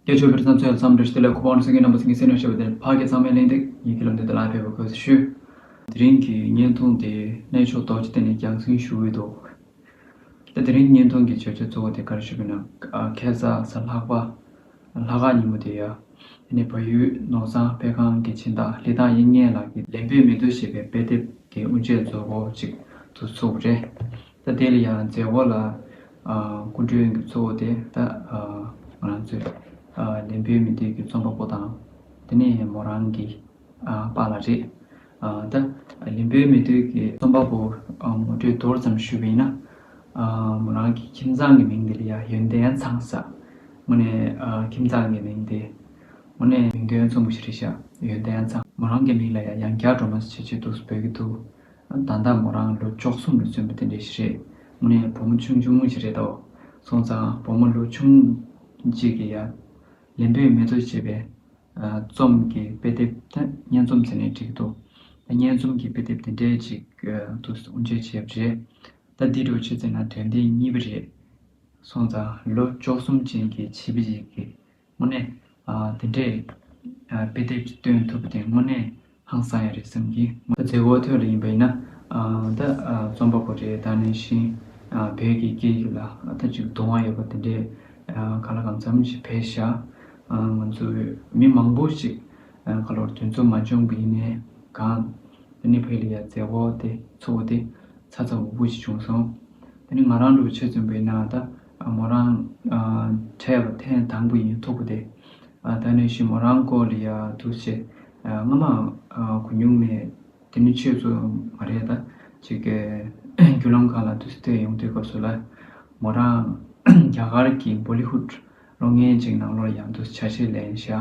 ཀྱེ་ཆོས་འཕེལ་ཚང་ཚོས་མཚམས་འདྲིར་ཞི་ལས་ཁོ་པ་ཨོ་ན་སེང་གེ་རྣམ་པ་སེང་གེ་སེང་ལོས་བྱས་པ་དེར་ཕག་སྐྱེས་ཚང་མས་གླེང་སྟེགས་ཡི་གེ་ལ་འདོན་ཏེ་ལག་ཕེབས་པར་གོས་སུ་ཞུས། དེ་རིང་གི་བརྙན་ཐུང་དེ་གནས་མཆོག་རྡོ་རྗེ་གཏེར་ནས་རྒྱག་འཛིན་ཞུ་འོས་འདུག་ད་དེ་རིང་བརྙན་ཐུང་གི་བརྗོད་བྱ་གཙོ་བོ་དེ་ག་རེ་ཞུ་དགོས་ན་ཁལ་བཟའ་ས་ལྷག་པ་ལྷ་ཁང་ཉིན་མོ་དེ་ཡོད་དེ་ནས་བལ་ཡུལ་ནོར་བཟང་དཔེ་ཁང་གི་བྱིན་བདག་ལི་ཐང་དབྱིག་གཉེན་ལགས་ཀྱིས་ལེན་པའི་མི་སྡུག་ཞེས་པའི་དཔེ་དེབ་དེ་དབུ་འབྱེད་མཛོད་སྒོ་གཅིག་ཏུ་ཚུགས་པ་རེད། ད་དེ་ལ་ཡང་མཛད་བོ་ལ། སྐུ་མགྲོན་གྱི་གཙོ་བོ་དེ་ད་ང་རང་ཚོས་ལན་བོད་མི་སྡོད་ཀྱི་རྩོམ་པ་པོ་དང། དེ་ནས་མོ་རང་གི་པ་ལ་རེད། ད་ལན་བོད་མི་སྡོད་ཀྱི་རྩོམ་པ་པོ་མོ་གྲོས་མདོར་ཙམ་ཞུས་པ་ཡིན་ན། མོ་རང་གི་ཁྱིམ་ཚང་གི་མིང་དེ་ལ་ཡང་ཡོན་ཏན་ཚང་ཟ། མོ་ནས་ཁྱིམ་ཚང་གི་མིང་དེ། མོ་ནས་མིང་དོན་མཚུངས་པ་ཞིག་རེད་ཤག་ཡོན་ཏན་ཚང། མོ་རང་གི་མིང་ལ་ཡང་ཡང་བསྐྱར་འགྲོ་མ་བྱེད་ཀྱི་འདུག་འབོད་ཀྱི་འདུག་ད་ལྟ་མོ་རང་ལོ་བཅོ་གསུམ་ལ་སོན་པ་དེ་འདྲས་ཤིག་རེད། མོ་ནི་བུ་མོ་ཆུང་ཆུང་ངུ་ཞིག་རེད་དོ། སོང་ཙང་བུ་མོ་ལོ་ཆུང་གཅིག་གི་ཡར་ལན་བུད་མེད་ཚོ་ཅེས་པའི་རྩོམ་གྱི་དཔེ་དེབ་དེ་སྙན་རྩོམ་ཟེར་ནས་བྲིས་ཀྱི་འདུག་ད་སྙན་རྩོམ་གྱི་དཔེ་དེབ་དེ་འདྲས་ཅིག་ཏུ་དབུ་འབྱེད་བྱས་པ་རེད། ད་འདི་འདྲ་བོ་བྱེད་ཚེ་ན་དོན་དེ་གཉིས་པ་རེད། སོང་ཙང་ལོ་བཅོ་གསུམ་ཅན་གྱི་བྱིས་པ་ཞིག་གིས་དངོས་གནས། དེ་འདྲའི་དཔེ་དེབ་ཅིག་སྟོན་ཐུབ་པ་དེ་དངོས་གནས་ཧང་སང་ཡ་རེད་བསམ་གི། མཛད་སྒོ་ཐོན་རེ་ཡིན་པ་ཡིན་ན། ད་རྩོམ་པ་པོ་རེ་ད་ནས་བཞིན་བོད་ཀྱི་སྐད་ཡིག་ལ་ད་ཅིག་དུང་བ་ཡོད་པ་དེ་འདྲའི་ག་ལ་གང་འཚམ་ཞིག་བས་བཞག། ང་ཚོ་བོད་མི་མང་པོ་ཞིག་ག་ལོར་དུས་མཚོ་མ་འབྱོངས་པའི་ནས་གང། དེ་ནས་བོད་ལ་ཡ་མཛད་སྒོ་དེ་ཚོགས་པ་དེ་ཚ་ཚ་འུར་འུར་ཞིག་བྱུང་སོང། དེ་ནས་ང་རང་ལུག་ཕྱེ་བཙོན་པའི་ནང་ད། མོ་རང་འཕྲད་པ་ཐེངས་དང་པོ་ཡིན་ཐུག་པ་དེ། ད་ནས་བཞིན་མོ་རང་སྐོར་ལ་ཡར་ཐུག་ཚེ། སྔ་མའང་གོ་མྱོང་མེད། དེ་ནི་ཁྱོད་ཚོ་མ་རེད་ད། ཅེས་སྐད། བརྒྱུད་ལམ་ཁག་ལ་དུས་བསྟོད་ཡོང་དུས་སྐབས་སུ་ལ། མོ་རང། རྒྱ་གར་གྱི Bollywood ལོ་ངན་ཅིག་ནང་ལོར་ཡང་དུ་བྱ་བྱེད་ལེན་བཞག་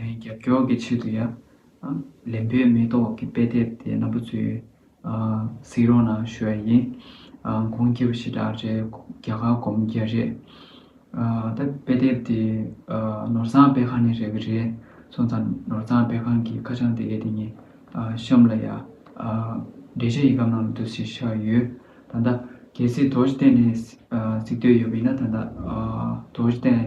རྒྱབ་སྐྱོར་གྱི་ཆེད་དུ་ཡང། ལེན་པའི་མེ་ཏོག་གི་དཔེ་དེབ་དེ་རྣམ་པ་ཚོའི། གཟིགས་རོགས་གནང་ཞུ་བ་ཡིན། གོང་སྐྱེས་པ་ཞེ་དྲག་རེད་རྒྱ་གར་སྒོམ་རྒྱལ་རེད། ད་དཔེ་དེབ་དེ། ནོར་བཟང་དཔེ་ཁང་ནས་རེག་གི་རེད་སོང་ཙང་ནོར་བཟང་དཔེ་ཁང་གི་ཁ་བྱང་དེ་གས་དེ་ཉིན། གཤམ་ལ་ཡང། འབྲེལ་ཆ་ཡི་གམ་ནང་ལ་འདུག་ཟེར་ཤག་ཡོད། ད་ལྟ། གལ་སྲིད་དོལ་རྟེན་ནས་གཟིགས་འདོད་ཡོད་པ་ཡིན་ན་ད་ལྟ། དོལ་རྟེན།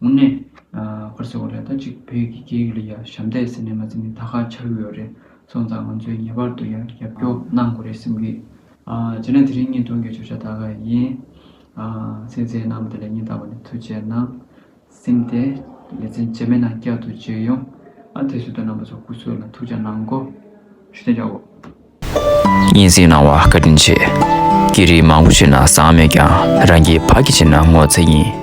དངོས་གནས། ཁོར་ཟེར་བ་ལས་ད་ཅིག་བོད་ཀྱི་སྐད་ཡིག་ལ་ཡང་ཞབས་འདེགས་ཟེར་ནས་མ་ཟེར་ནས་ད་ཁ་འཆར་གི་ཡོད་རེད་སོང་ཙང་ང་ཚོས་ངེས་པར་དུ་ཡང་རྒྱབ་སྐྱོར་གནང་དགོས་རེད་སེམས་གི། རྗེས་ན་དེ་རིང་ཉིན་སྟོང་གི་བརྗོད་བྱ་ད་ག་ཡིན། ཚིག་མཛེས་གནང་བ་དེ་ལས་ཉིན་ལྟར་བ་ནི་ཐུགས་རྗེ་གནང། སེམས་ཏེ། ལེ་ཚན་བརྗེད་མེད་ནང་བསྐྱར་དུ་བརྗེད་ཡོང། དེ་བསུ་དང་རྣམ་པ་ཚོ་སྐུ་གཟུགས་ལ་ཐུགས་རྗེ་གནང་གོ། ཞུ་དན་བྱ་འོ། སྙན་གསེང་གནང་བ་བཀའ་དྲིན་ཆེ། སྐད་རིགས་མང་པོ་ཤེས་ན་བཟང་མེད་ཀྱང་རང་གི་ཕ་གི་ཆེ་ན་ངོ་ཚ་ཡིན།